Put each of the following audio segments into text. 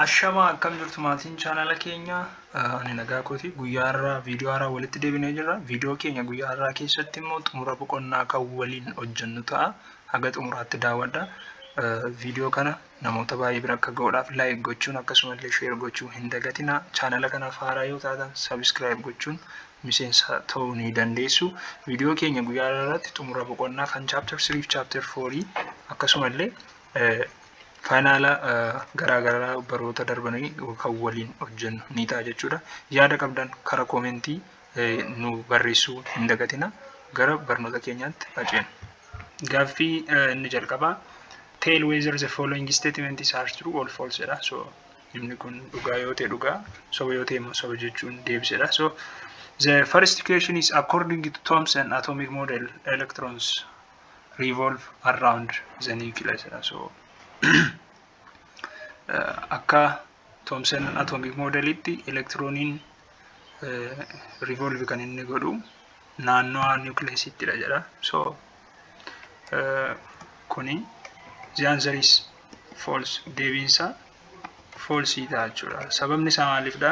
Ashamaa akkam jirtu maatiin chaanala keenya ani nagaa kooti guyyaa har'aa viidiyoo haaraa walitti deebinee jirra viidiyoo keenya guyyaa har'aa keessatti immoo xumura boqonnaa kan waliin hojjennu ta'a haga xumuraatti daawwadha viidiyoo kana namoota baay'ee bira akka ga'uudhaaf laayik gochuun akkasumallee sheer gochuu hin dagatinaa chaanala kanaaf haaraa yoo taatan sabiskiraayib gochuun miseensa ta'uu ni dandeessu viidiyoo keenya guyyaa har'aa irratti xumura boqonnaa kan chaapter 3 fi chaapter 4 akkasumallee faayinaala garaa garaa baroota darbanii kan waliin hojjennu ni ta'a jechuudha. Yaada qabdan karaa koomentii nu barreessuu hin dagatina. Gara barnoota keenyaatti haceen. Gaaffii inni jalqabaa tell whether the following statements are true or false jedha. So inni kun dhugaa yoo ta'e dhugaa soba yoo ta'e immoo soba jechuun deebisedha. So the first question is according to Thomson atomic model electrons revolve around the nucleus jedha so akka Thomson atomic modelitti elektirooniin revolve kan inni godhu naannoo nucleusittiidha jedha so kuni the answer is false deebiinsa false ta'a jechuudha sababni isaa maaliifdha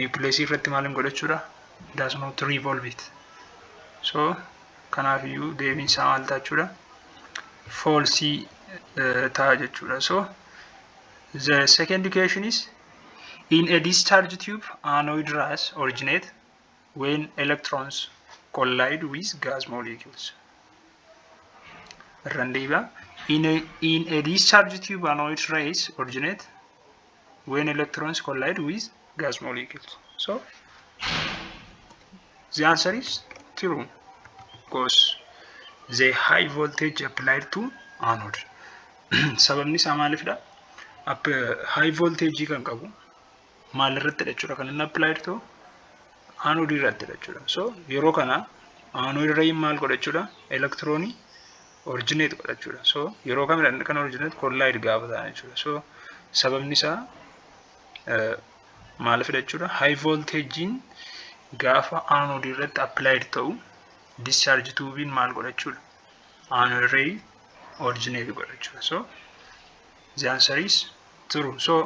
niwukileesii irratti maal hin godhachuudha does not revolve it so kanaaf iyyuu deebiin isaa maal ta'a jechuudha false ta'a jechuudha so the second equation is in a discharge tube anoid rays originate when electrons collide with gas molecules irran deebi'a in a, in a discharge tube anoid rays originate when electrons collide with gas molecules. So the answer is true because the high voltage applied to anode. Sababni isaa maalifidha? High voltage kan qabu maal irratti jechuudha kan inni applied to anode irratti jechuudha. So yeroo kana anode irra maal godha jechuudha? Elektiroonii originate godha jechuudha. So yeroo kamidha inni kan originate collide gaafa ta'an jechuudha. So sababni isaa maalifidha jechuudha. High voltage'n gaafa anode irratti applied ta'u discharge tuubiin maal godha jechuudha. Anode ray originate godha jechuudha. So the answer is true. So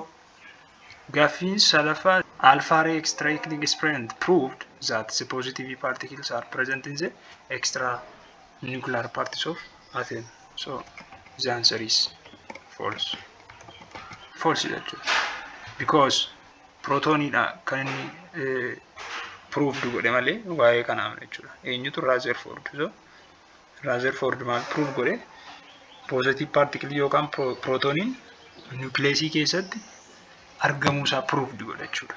gaaffiin salafa alpha ray extracting experiment proved that the positive particles are present in the extra nuclear parts of atom so the answer is false false jechuudha because protonidha kan inni eh, proved godhe malee waa'ee kanaa miti jechuudha eenyutu Rutherford so Rutherford maal prove godhe positive particle yookaan pro- protoniin nucleus keessatti argamuu isaa proved godhe jechuudha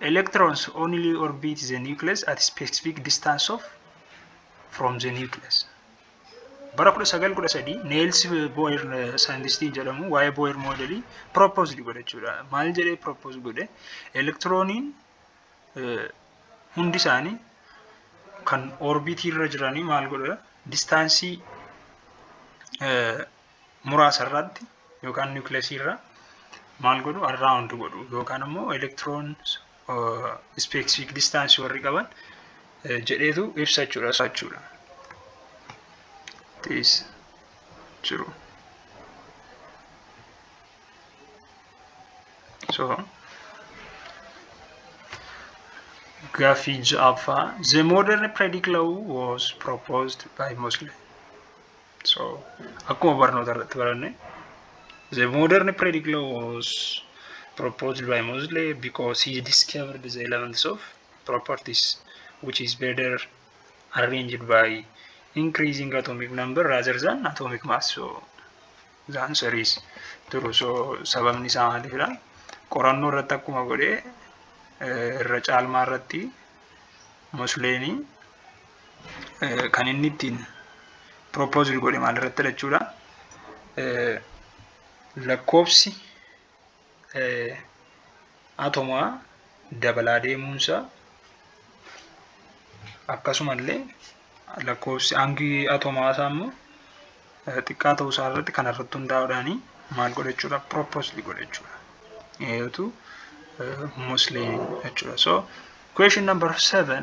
electrons only orbit the nucleus at specific distance of from the nucleus. Bara 1913 Niels Bohr saayintistiin jedhamu waa'ee Bohr moodelii propose godhe jechuudha. Maal jedhee propose godhe? Elektirooniin hundi isaanii kan orbitii irra jiranii maal godha? Distaansii muraasa irratti yookaan nucleus irra maal godhu around godhu yookaan immoo electron specific distance warri qaban jedheetu ibsa jechuudha jechuudha. Tees jiru. So gaaffii ja'affaa the modern predicate law was proposed by Mosley. So, akkuma barnoota irratti baranne, the modern periodic law was proposed by Mosley because he discovered the elements of properties which is better arranged by increasing atomic number rather than atomic mass. So, the answer is true. So, sababni isaa maalidha? Qorannoo irratti akkuma godhe irra caalmaa irratti Mosleenii kan inni ittiin proposed godhe maalirratti jechuudha. Lakkoofsi atomaa dabalaa deemuunsaa akkasumallee lakkoofsi hangi atomaa isaa immoo xiqqaa ta'uu isaa irratti kan irratti hundaa'uudhaan maal godhachuudha proposed godhachuudha. Eeyotu mostly jechuudha. So question number seven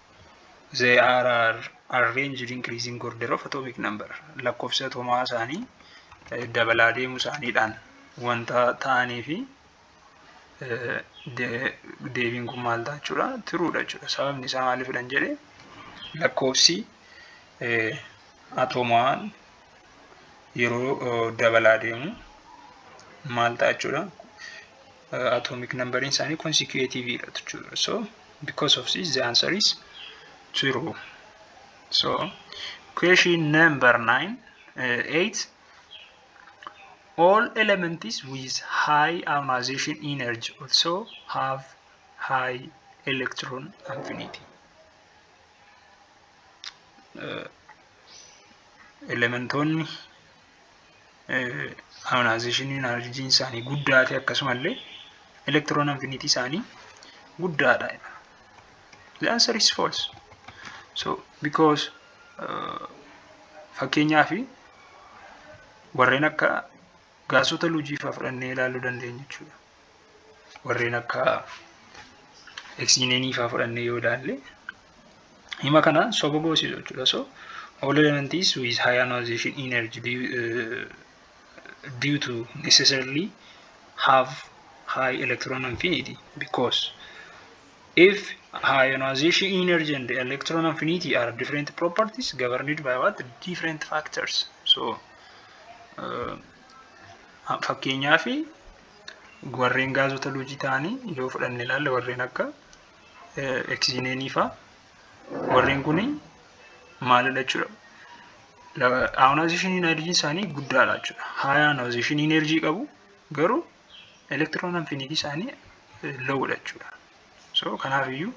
they are arranged increasing order of atomic number lakkoofsa atomaa isaanii dabalaa deemuu isaaniidhaan wanta ta'anii fi deebiin kun maal ta'a jechuudha tiruudha jechuudha sababni isaa maaliifidhan jedhe lakkoofsi atomaa yeroo dabalaa deemu maal ta'a jechuudha atomic numberiin isaanii consecutive dha jechuudha so because of this the answer is true so question number 9 uh, 8 all elements with high ionization energy also have high electron affinity elementoonni ayonaayizeshinii inarjiin isaanii guddaa ta'e akkasumallee elektiroon infinitii isaanii guddaadha. The answer is false. So because uh, fakkeenyaaf warreen akka Gaasota lujii fa'aa fudhannee ilaaluu dandeenya jechuudha. Warreen akka eksiineenii fa'aa fudhannee yoo ilaalle hima kana soba goosisu jechuudha. So all elements with high ionization energy due, uh, due to necessarily have high electron affinity because If ionization energy and electron affinity are different properties governed by what different factors. So uh, fakkeenyaa fi warreen gaazota luujii ta'anii yoo fudhanne ilaalle warreen akka eksiineenii faa warreen kun maalidha jechuudha. Ionization energy isaanii guddaadha jechuudha. High ionization energy qabu garuu elektiroon anfiniitii isaanii loowudha jechuudha. So kanaafiyyuu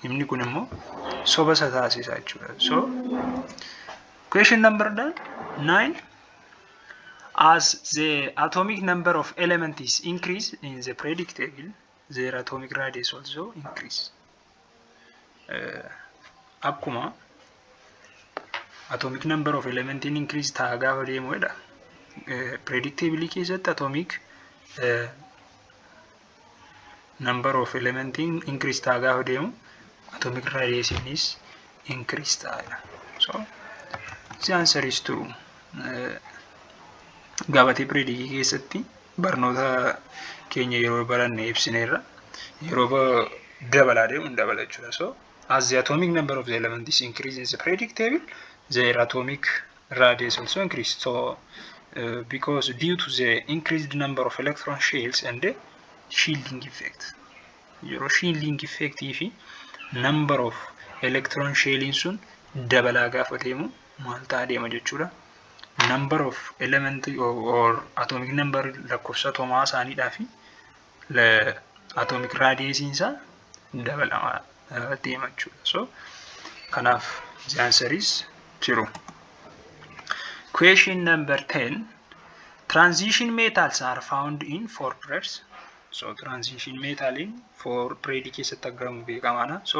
himni kun immoo soba isa taasisa jechuudha. So question number nine as the atomic number of elements increase in the periodic table their atomic radius also increase. akkuma atomic number of element in increase ta'a gaafa deemu jedha predictably keessatti atomic number of element in increase ta'a gaafa deemu atomic radius is increase ta'a jedha so the answer is true gabatee predicii keessatti barnoota keenya yeroo baranne ibsineerra yeroo ba- dabalaa deemu hin dabala jechuudha so as the atomic number of the element is increasing is predictable their atomic radius also increase so uh, because due to the increased number of electron shells and the shielding effect yeroo shielding effect fi number of electron shelling sun dabalaa gaafa deemu maal ta'a deema jechuudha. Number of element or atomic number lakkoofsa atoomaa isaaniidhaa fi atomic radius isaa dabalamaa deema jechuudha. So kanaaf the answer is true. Question number 10. Transition metals are found in four grades. So transition metal in four grade keessatti argamu beekamaadha. So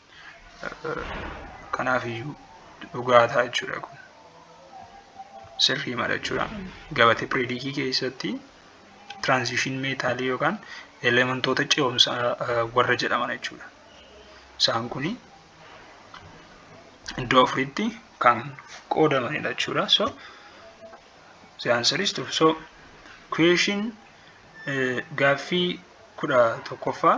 kanaaf iyyuu dhugaa ta'a jechuudha kun sirrii mala jechuudha gabatee piriidikii keessatti tiraanzishin meetaalii yookaan elementoota ce'umsaa warra jedhaman jechuudha isaan kun iddoo afuritti kan qoodamanidha jechuudha so the answer is true so question gaaffii kudha tokkoffaa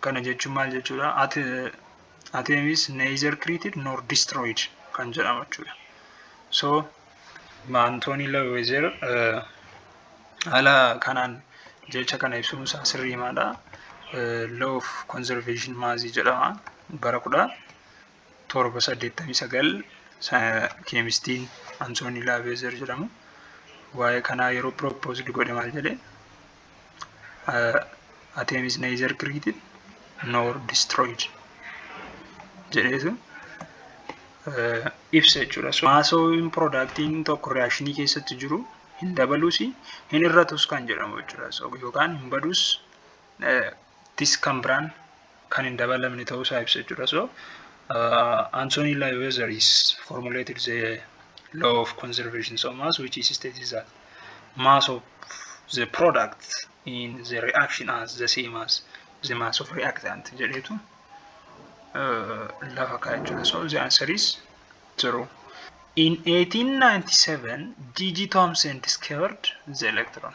Kana jechuun maal jechuudha? Atom is neither created nor destroyed kan jedhamu jechuudha. So Anthony Lavoisier haala kanaan jecha kana ibsuun isaa sirriimaadha. Law of conservation mass jedhama. Bara kudha torba saddeettamii sagal keemistiin Antoonii Laaveezer jedhamu waa'ee kanaa yeroo pirooppoozdi godhe maal jedhe ateemis neezer kiriitin noor distirooyid jedheetu ibsa jechuudha. Maasoowin piroodaaktiin tokko riyaashinii keessatti jiru hin dabalus hin irratus kan jedhamu jechuudha. Yookaan hin badus tis kan biraan kan hin dabalamne ta'uu isaa ibsa jechuudha. So uh, Anthony Lioezer is formulated the law of conservation of mass which is states that mass of the product in the reaction as the same as the mass of reactant jedhetu uh, lafa kaa'e jechuudha. So the answer is true. In 1897, G.G. Thomson discovered the electron.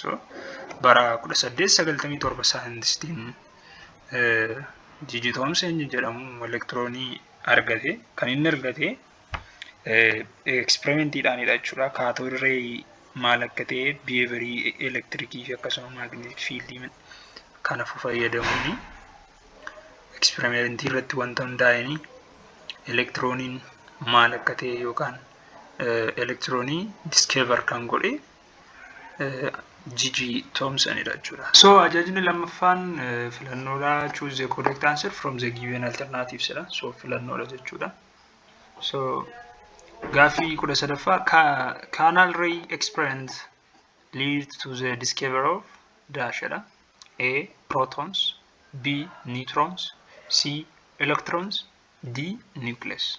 So, bara 1897 saayintistiin Jiji Toomsen jedhamu elektiroonii argate. Kan inni argate eksperimentiidhaanidha jechuudha. Kaatood reeyi maal akka ta'e biheeverii elektirikii fi akkasuma maagneetik fiildii kanaaf fayyadamuuni. Eksperimentii irratti wanta hundaa'een elektirooniin maal akka ta'e yookaan elektiroonii diskeevar kan godhe jiji toomsan dha jechuudha. So ajajni lammaffaan filannoodha choose the correct answer from the given alternatives dha. So filannoodha jechuudha. So gaaffii kudha sadaffaa kaanaal ray experiment lead to the discovery of dash dha. A protons B neutrons C electrons D nucleus.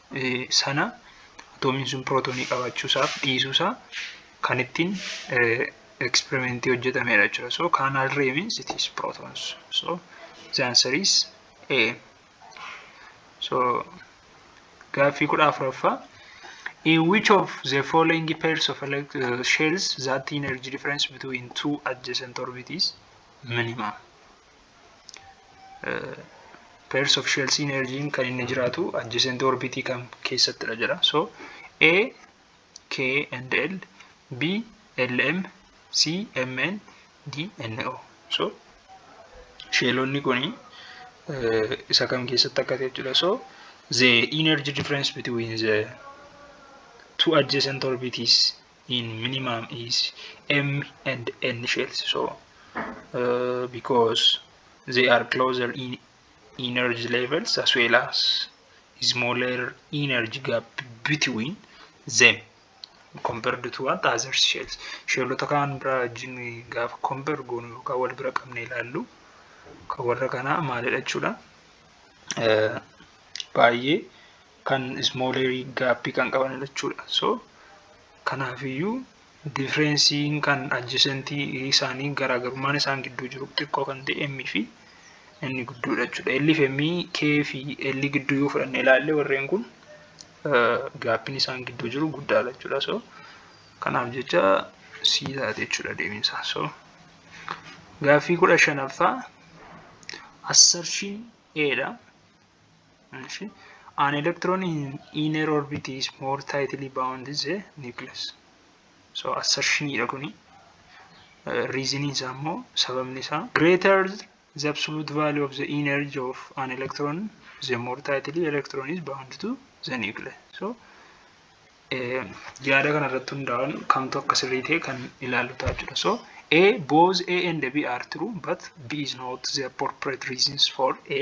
sana atoomiin sun pirootoonii qabaachuusaaf dhiisuusaa kan ittiin eksperimentii hojjetamedha jechuudha. So kaanaal ree means it is protons. So the answer is A. So gaaffii kudha afuraffaa. In which of the following pairs of elect uh, shells that energy difference between two adjacent orbit is minimum? pairs of shells energy kan inni jiraatu adjacent orbit kam keessattidha jedha so a k and l b l m c m n d n o so sheelonni kun isa kam keessatti akka ta'e jechuudha so the energy difference between the two adjacent orbits in minimum is M and N shells so uh, because they are closer in energy levels as well as smaller energy gap between them compared to what other shells sheelota kaan biraa wajjin gaafa compare goonu yookaan wal bira qabne ilaallu kan warra kanaa maalidha jechuudha baay'ee kan smoller gaappii kan qaban jechuudha so kanaafiyyuu differensiin kan adjacentii isaanii garaagarummaan isaan gidduu jiru xiqqoo kan ta'e m fi inni gidduudha jechuudha. L fi M, K fi L gidduu yoo fudhanne ilaalle warreen kun gaappiin isaan gidduu jiru guddaadha jechuudha. So kanaaf jecha C taate jechuudha deebiinsaa. So gaaffii kudha shanaffaa assertion A dha. An electron in inner orbit is more tightly bound is a nucleus. So assertion dha kuni. Reason isaa immoo sababni isaa greater the absolute value of the energy of an electron the more tightly electron is bound to the nucleus. So yaada kana irratti hundaa'uun kamtu akka sirrii ta'e kan ilaallu ta'a jechuudha. So A both A and B are true but B is not the appropriate reasons for A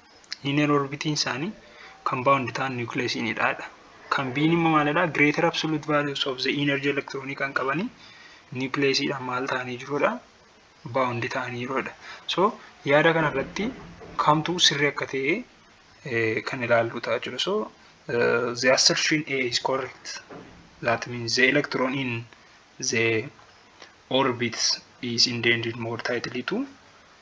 Linear orbitiin isaanii kan bound ta'an nucleusini dha. Kan biin immoo maalidha? Greater absolute values of the energy electron kan qabanii nucleusidhaan maal ta'anii jirudha? Bound ta'anii jirudha. So yaada kanarratti kamtu sirrii akka ta'e kan ilaallu ta'a jechuudha. So uh, the assertion A is correct. That means the electron in the orbits is indented more tightly to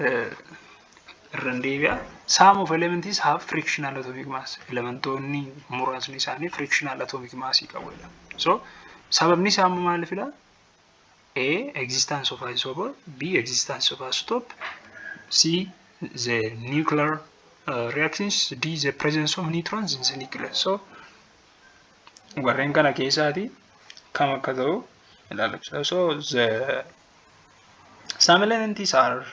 irra deebi'a. Some of elements have frictional atomic mass. Elementoonni muraasni isaanii frictional atomic mass qabu jedha. So sababni isaa amma maalifidha? A existence of isomer, B existence of isotope, C the nuclear uh, reactions, D the presence of neutrons in the nucleus. So warreen kana keessaati kam akka ta'u ilaalachaa. So the Some elements are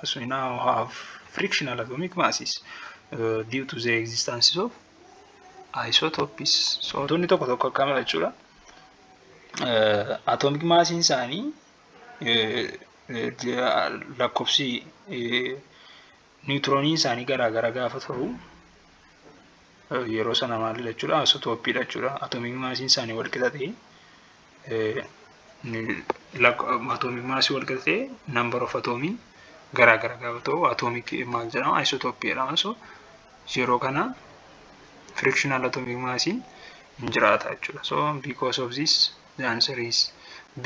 as we now have frictional atomic masses uh, due to the existence of isotopes. So wantoonni tokko tokko akkam jechuudha. Atomic massiin isaanii lakkoofsi Niwutironiin isaanii garaa gara gaafa ta'u yeroo sana maalidha jechuudha asotooppiidha jechuudha atoomii maasiin isaanii wal qixa ta'e atoomii maasii wal qixa ta'e nambar of atoomiin garaa gara gaafa ta'u atoomii maal jedhama aisotooppii jedhama so yeroo kana frictional atomic maasiin hin jiraata jechuudha so because of this the answer is b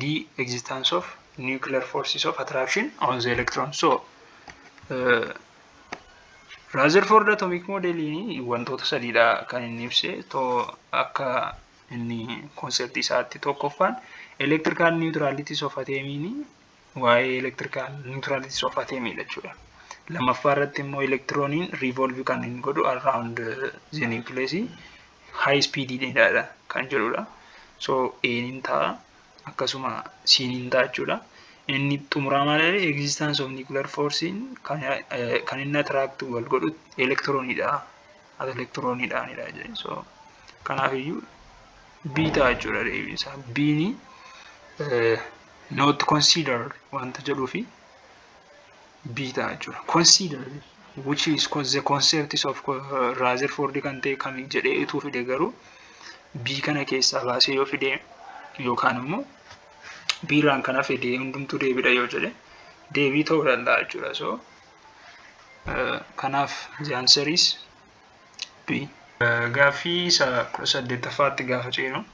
D. Existence of nuclear forces of attraction on the electron. So, uh, Rutherford atomic model wantoota sadiidha kan inni ibse to akka inni konseptii isaatti tokkoffaan electrical neutralities of ateemiini waa'ee electrical neutralities of ateemiidha jechuudha. Lammaffaa irratti immoo elektirooniin revolve kan inni godhu around the nucleus high speed dheeraadha kan jedhudha. So A'n hin ta'a akkasuma C'n hin ta'a jechuudha. Inni xumuraa maal jedhe existence of nuclear force'n kan eh, kan inni attract wal godhu elektiroonidha. As elektiroonidhaanidha jedhe. So kanaafiyyuu B ta'a jechuudha deebiin isaa. B'ni eh, not considered wanta jedhuufi B ta'a jechuudha. Consider which is cause the concepts of Rutherford kan ta'e kami jedhee utuu fide garuu B kana keessaa baasee yoo fide yookaan immoo B irraan kan hafe dee hundumtuu deebiidha yoo jedhe deebii ta'uu danda'a jechuudha. So kanaaf the answer is B. Gaaffii isa kudha saddeettaffaatti gaafa ceenu.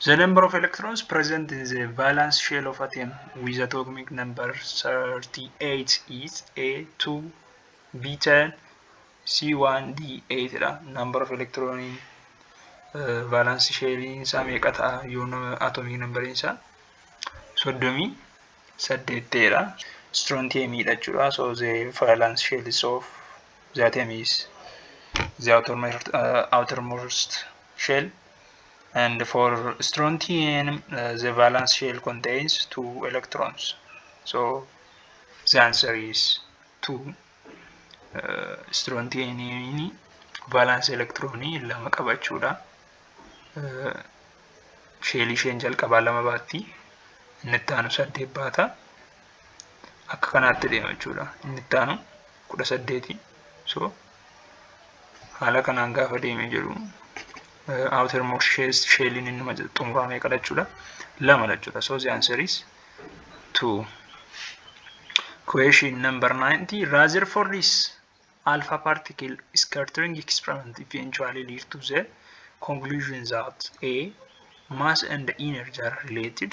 The number of electrons present in the valence shell of atom with atomic number 38 is A2, B10, C1, D8 dha. Number of electron in uh, valence shell isaa meeqa ta'a yoo atomic number isaa soddomii saddeet ta'edha. Strontium dha jechuudha. So the valence shell is of the atom is the outermost, uh, outermost shell And for strontium, uh, the valence shell contains two electrons. So the answer is two. Uh, strontium valence electron lama qabachuudha. Uh, sheelii isheen jalqabaa lama baatti inni itti aanu saddeet baata akka kanaatti deema jechuudha inni itti aanu kudha saddeeti so haala kanaan gaafa deemee jedhu outer more shells shelliin inni xumuraa meeqa jechuudha lama jechuudha so the answer is two question number 90 Rutherford is alpha particle scattering experiment eventually lead to the conclusion that a mass and energy are related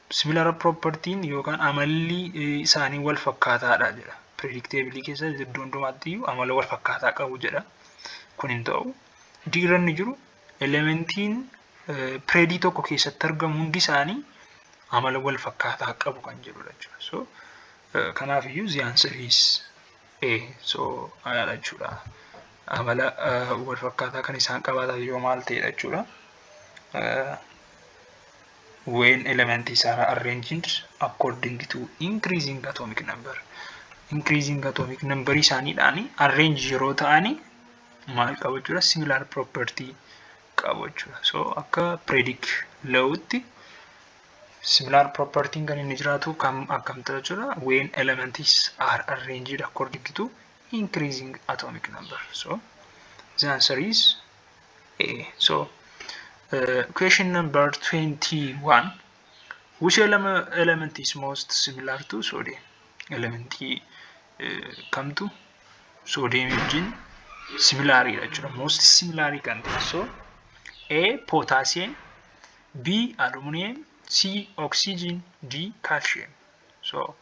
Similar property'n yookaan amalli isaanii wal fakkaataadha jedha. Predictabilii keessa iddoo hundumaatti iyyuu amala wal fakkaataa qabu jedha. Kun hin ta'u. D irra inni jiru elementiin predii tokko keessatti argamu hundi isaanii amala wal fakkaataa qabu kan jedhudha jechuudha. So kanaaf iyyuu the answer is A. So ayaadha jechuudha. Amala wal fakkaataa kan isaan qabaatan yoo maal ta'edha jechuudha. when elements are arranged according to increasing atomic number increasing atomic number isaaniidhaan arrange yeroo ta'ani maal qabu jechuudha similar property qabu jechuudha so akka predict la'utti similar property kan inni jiraatu kam akkam ta'a jechuudha when elements are arranged according to increasing atomic number so the answer is Eh, so uh, question number 21 which element, element is most similar to sodium elementii uh, kamtu sodium wajjin similaariidha jechuudha most similaarii kan ta'e so a potassium b aluminum c oxygen d calcium so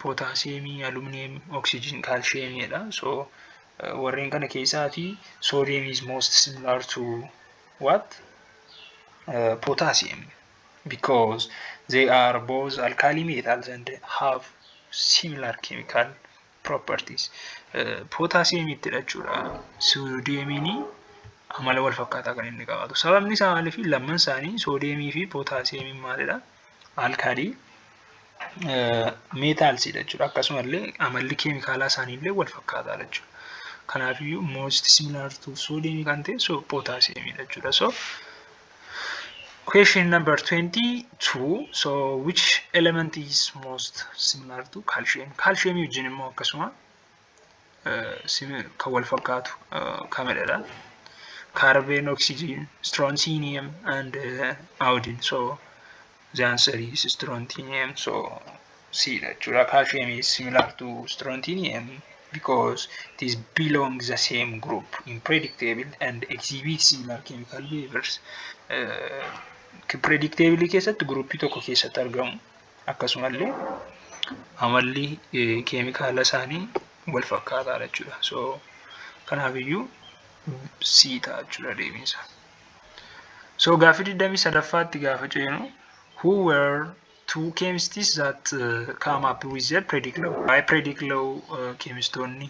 pootaasiyeemii, aluminiyeem, oksijiin, kaalshiyeemii jedha. So warreen kana keessaatii soodiyem is most similar to what? Uh, potassium because they are both alkali metals and have similar chemical properties. Uh, potassium itti hidhachuudha. Soodiyemiin amala wal fakkaataa kan inni qabaatu. Sababni isaa maaliif lamman isaanii soodiyemii fi pootaasiyeemiin maalidha? alkaalii meetaalsiidha jechuudha. Akkasuma illee amalli keemikaalaa isaanii illee wal fakkaataadha jechuudha. Kanaafiyyuu most similar to sodium kan ta'e so potassium dha jechuudha. So question number 22 so which element is most similar to calcium? Calcium wajjin immoo akkasuma kan wal fakkaatu kamidha carbon oxygen strontium and iodine so the answer is strontium so c dha jechuudha calcium is similar to strontium because it is belong the same group in predictable and exhibit similar chemical behaviors predictable keessatti group tokko keessatti argamu akkasumallee amalli keemikaala isaanii wal fakkaataadha jechuudha. So kanaafiyyuu C ta'a jechuudha deebiinsa. So gaaffii digdamii sadaffaatti gaafa ceenu who were two chemists that uh, come up with their prediclow by prediclow uh, chemistoonni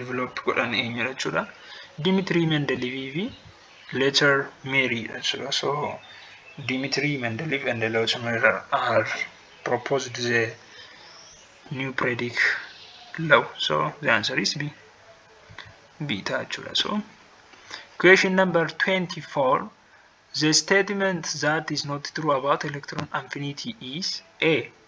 develop godhan eenyudha jechuudha. Dimitrii Mendeleevii fi Leetar Meeriidha jechuudha. So Dimitrii Mendeleev and Leetar Meerii are proposed the new periodic law. So the answer is B. B ta'a jechuudha. So question number 24 the statement that is not true about electron affinity is A.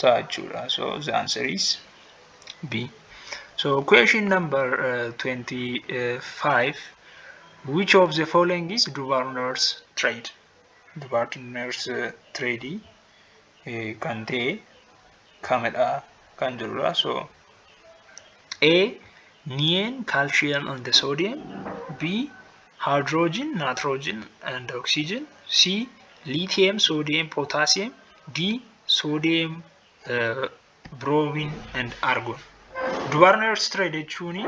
ta'a jechuudha so the answer is b so question number uh, 25 which of the following is dubar nurse trade dubar nurse uh, trade uh, kan ta'e kamidha kan jirudha so a neon calcium and the sodium b hydrogen nitrogen and oxygen c lithium sodium potassium D. Sodium, uh, bromine and argon. Dubarner trade jechuun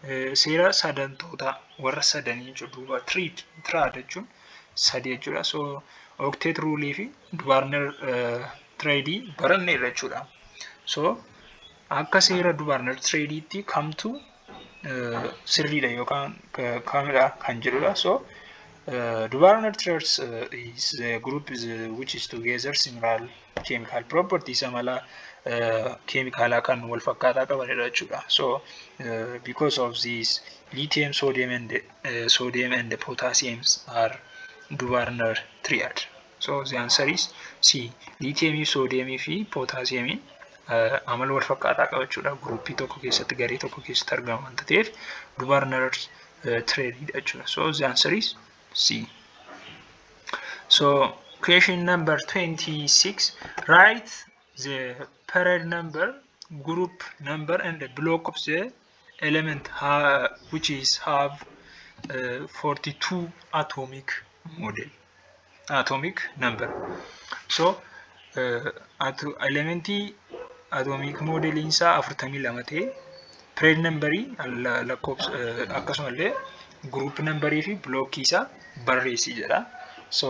eh, seera sadantootaa warra sadanii jechuudha. Duuba triid tiraad jechuun sadii jechuudha. So octet rule fi dubarner eh, trade baranneerra jechuudha. So akka seera dubarner tradeetti kamtu sirriidha yookaan kaamidha kan jedhudha. So dubarona traits is the group is, which is together similar chemical properties amala keemikaalaa kan wal fakkaataa qabanidha jechuudha. So because of this lithium, sodium and sodium and potassium are dubarona triad. So the answer is C. Liitiyeemii, soodiyeemii fi pootaasiyeemiin amala wal fakkaataa qabachuudha. Guruupii tokko keessatti garee tokko keessatti argamu wanta ta'eef dubarnar tireediidha jechuudha. So the answer is C. So question number 26 write the parent number group number and the block of the element ha which is have uh, 42 atomic model atomic number so uh, ato elementii atomic model isaa 42 ta'e parent number lakkoofsa uh, akkasumallee group number fi block isaa barreessi jedha so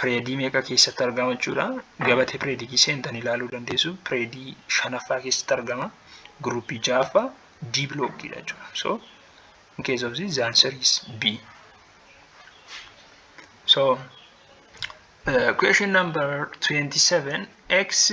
pireedii meeqa keessatti argama jechuudha. Gabatee pireedikii seentanii ilaaluu dandeessu. Pireedii shanaffaa keessatti argama. Guruupii ja'affaa D bilookkiidha jechuudha. So in case of this the answer is B. So uh, question number 27 x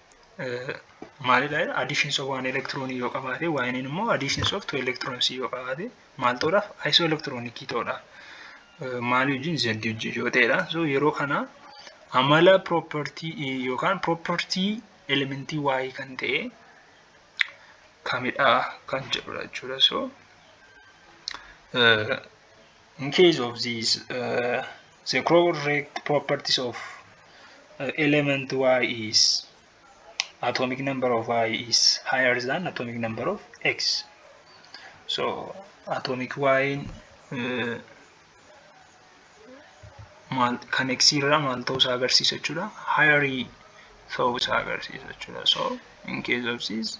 maalidha jedha additions of one electron yoo qabaate yne immoo additions of two electrons yoo qabaate maal ta'uudhaaf iso electronic ta'uudhaaf maalii wajjin z wajjin yoo ta'edha so yeroo kana amala property yookaan property elementii waa'ee kan ta'e kamidha kan jedhudha jechuudha so In case of this, uh, the correct properties of uh, element y is atomic number of y is higher than atomic number of x. So atomic y uh, maal kan x irraa maal ta'uu isaa agarsiisa jechuudha. Higher ta'uu isaa agarsiisa jechuudha. So in case of this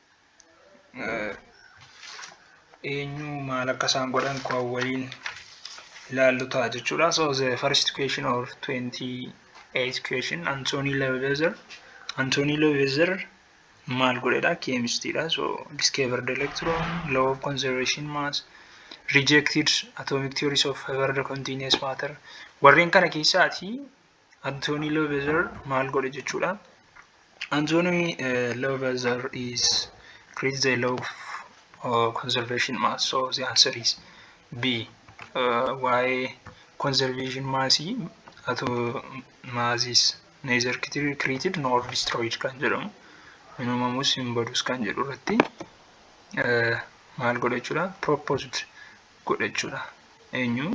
eenyu maal akka isaan godhan kan waliin ilaallu ta'a jechuudha. So the first question of 28 question Anthony Levezer Anthony Levezer maal godhedha keemistiidha. So discovered electron, law of conservation mass, rejected atomic theories of hyper continuous matter warreen kana keessaati Anthony Lovezer maal godhe jechuudha. Anthony uh, Lovezer is creates the law of uh, conservation mass. So the answer is B. Uh, why conservation mass ato mass is neither created nor destroyed kan jedhamu hin uumamus hin badus kan jedhu irratti uh, maal godha jechuudha proposed godha jechuudha. Eenyu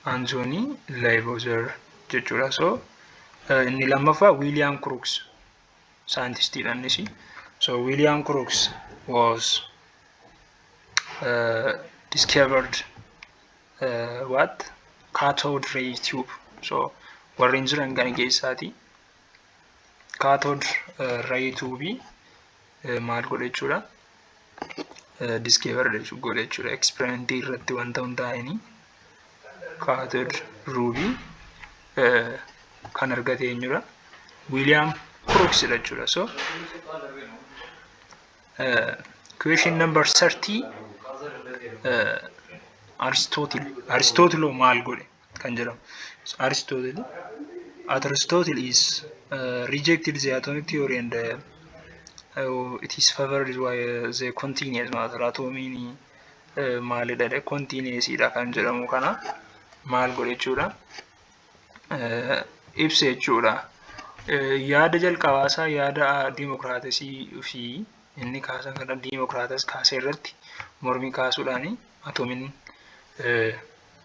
Antoonii Laayivoozer jechuudha. So inni lammaffaa Wiiliyaam Kiruuks saayintistiidha innis. So Wiiliyaam Kiruuks was uh, discovered uh, what cathode ray tube. So warreen jiran kana keessaati. Cathode uh, ray tube maal godhe jechuudha diskeevar godhe jechuudha eksperimentii irratti wanta hundaa'anii kaatod ruubii kan argate eenyudha wiiliyaam kiruksidha jechuudha so question number 30 aristootil aristootilo maal godhe kan jedhamu Aristotle Aristotle is uh, rejected the atomic theory and uh, uh, it is favored by uh, the continuous matter atomiin uh, maalidha dhe continuous dha kan jedhamu kana maal godhe jechuudha uh, ibse jechuudha uh, yaada jalqabaa isaa yaada diimokiraatasii fi inni kaasan kana diimokiraatas kaasee irratti mormii kaasuudhaan atomiin uh,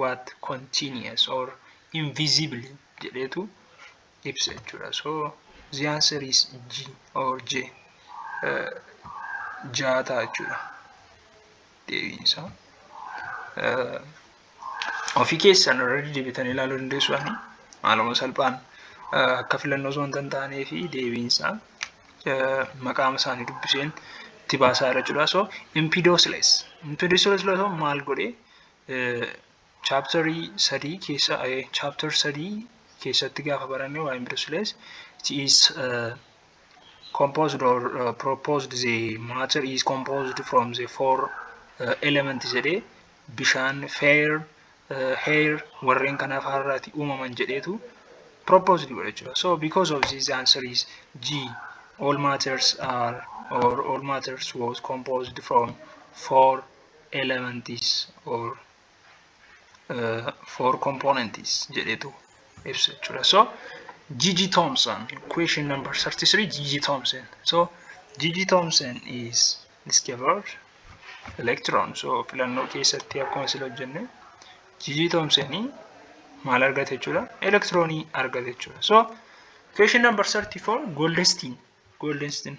what continuous or invisible jedheetu ibsa jechuudha so the answer is G or J ja'a ta'a jechuudha deebiin isaa ofii keessan irra deebitanii ilaaluu dandeessu ani maaluma salphaan akka filannoo osoo hin taanee fi deebiin isaa maqaama isaanii dubbiseen itti baasaa irra jira so impidoosles impidoosles maal godhee Chapter 3 keessa chapter 3 keessatti gaafa baranne waa'ee brushless it is uh, composed or uh, proposed the matter is composed from the four uh, elements jedhee bishaan fair uh, hair warreen kanaaf har'aati uumaman jedheetu proposed godha jechuudha so because of this answer is G all matters are or all matters was composed from four elements or uh, four components jedhetu ibsa jechuudha. So Gigi Thompson question number 33 Gigi Thompson. So Gigi Thompson is discovered electron. So filannoo keessatti akkuma sila hojjenne Gigi Thompson maal argate jechuudha? Elektiroonii argate jechuudha. So question number 34 Goldstein Goldstein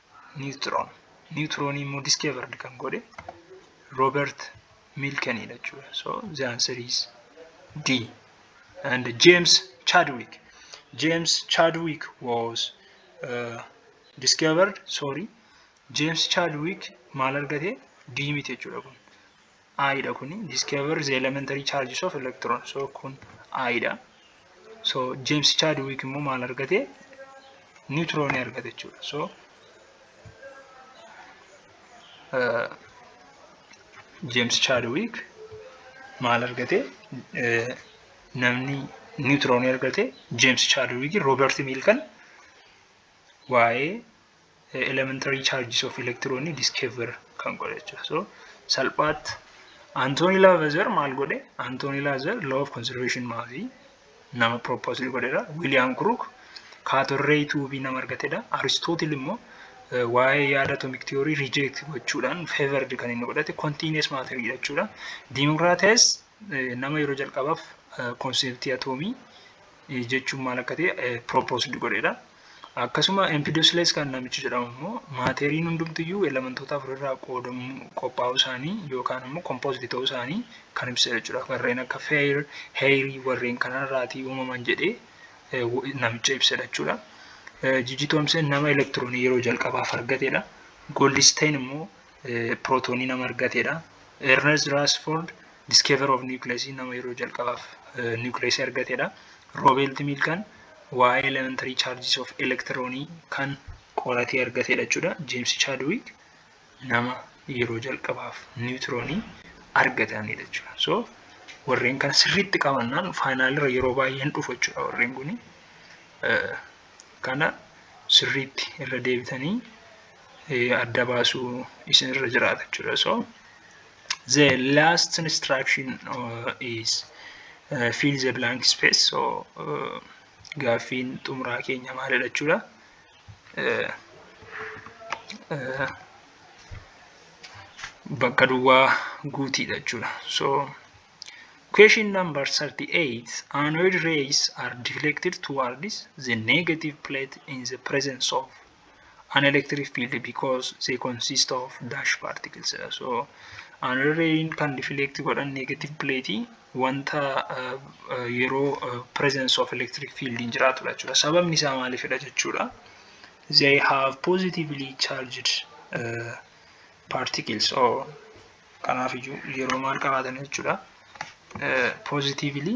niwutiroon niwutiroonii immoo diskeevardi kan godhe roobert miilkeniidha jechuudha so the answer is d and james chadwick james chadwick was uh, discovered sorry james chadwick maal argate d miti jechuudha kun I dha kuni discover the elementary charges of electron so kun I dha so James Chadwick immoo maal argate niwutroonii argate jechuudha so uh, James Chadwick maal argate uh, namni niwutroonii argate James Chadwick Robert Milkan waa'ee elementary charges of electron discover kan godhe jechuudha. So salphaatti Anthony Lavazer maal godhe? Anthony Lavazer law of conservation maafi nama propose godhedha. William Crook kaatorree tuubii nama argatedha. Aristotle immoo waa'ee yaada atomic theory reject gochuudhaan favored kan inni godhate continuous matter jechuudha. Democritus nama yeroo jalqabaaf konseptii atoomii jechuun maal akka ta'e propose godhedha. Akkasuma empidosles kan namichi jedhamu immoo maateeriin hundumtiyyuu elementoota afurirraa qoodamuu qophaa'uu isaanii yookaan ammoo kompooziti ta'uu isaanii kan ibsa jechuudha. Warreen akka feer, heerii warreen kanarraatii uumaman jedhee namicha ibsa jechuudha. Jiji Toomsen nama elektiroonii yeroo jalqabaaf argatedha. Goldisteen immoo pirootoonii nama argateedha. Ernest Rutherford discover of nucleus nama yeroo jalqabaaf nucleus argateedha. Robert Milkan waa'ee elementary charges of electronii kan qoratee argateedha jechuudha. James Chadwick nama yeroo jalqabaaf niwutiroonii argatanidha jechuudha. So warreen kana sirriitti qabannaan faayinaalirra yeroo baay'ee hin dhufu jechuudha warreen kun. Kana sirriitti irra deebitanii adda baasuu isin irra jiraata jechuudha so the last instruction is fill the blank space so gaaffiin xumuraa keenya maalidha jechuudha bakka duwwaa guutiidha jechuudha so Question number 38. Anode rays are deflected towards the negative plate in the presence of an electric field because they consist of dash particles dha. So another rain kan deflect godhan negative plate wanta uh, uh, yeroo uh, presence of electric field hin jiraatudha jechuudha. Sababni isaa maaliifidha jechuudha. They have positively charged uh, particles or kanaaf iyyuu yeroo maal qabaatan jechuudha. Uh, positively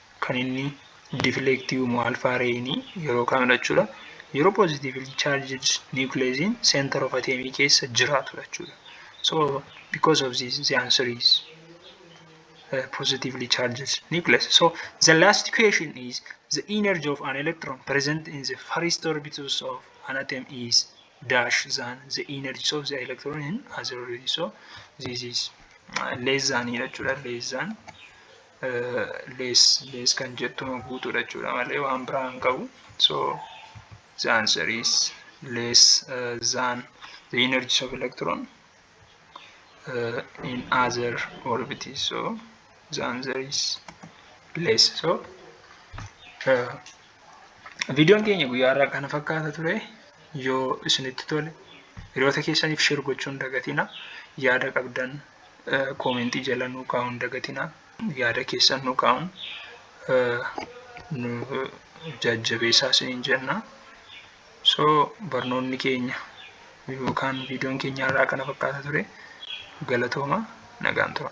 kan inni deflect uumu alpha ray ni yeroo kamidha jechuudha yeroo positively charged nucleus in center of atom keessa jiraatudha jechuudha so because of this the answer is uh, positively charged nucleus so the last question is the energy of an electron present in the first orbitus of an atom is dash than the energy of the electron in other orbitus so this is uh, less than jechuudha less than lees lees kan jettuma guutuudha jechuudha malee waan biraa hin qabu so the answer is less uh, than the energies of electron uh, in other orbites so the answer is less so uh, Viidiyoon keenya guyyaa irraa kana fakkaata ture yoo isinitti tole hiriyoota keessaniif sheer gochuun dagatina yaada qabdan koomentii jala nuu kaa'uun dagatina yaada keessan nuu kaa'uun nu jajjabeessaa isiniin jenna. So barnoonni keenya yookaan viidiyoon keenya irraa kana fakkaata ture galatooma nagaan tura.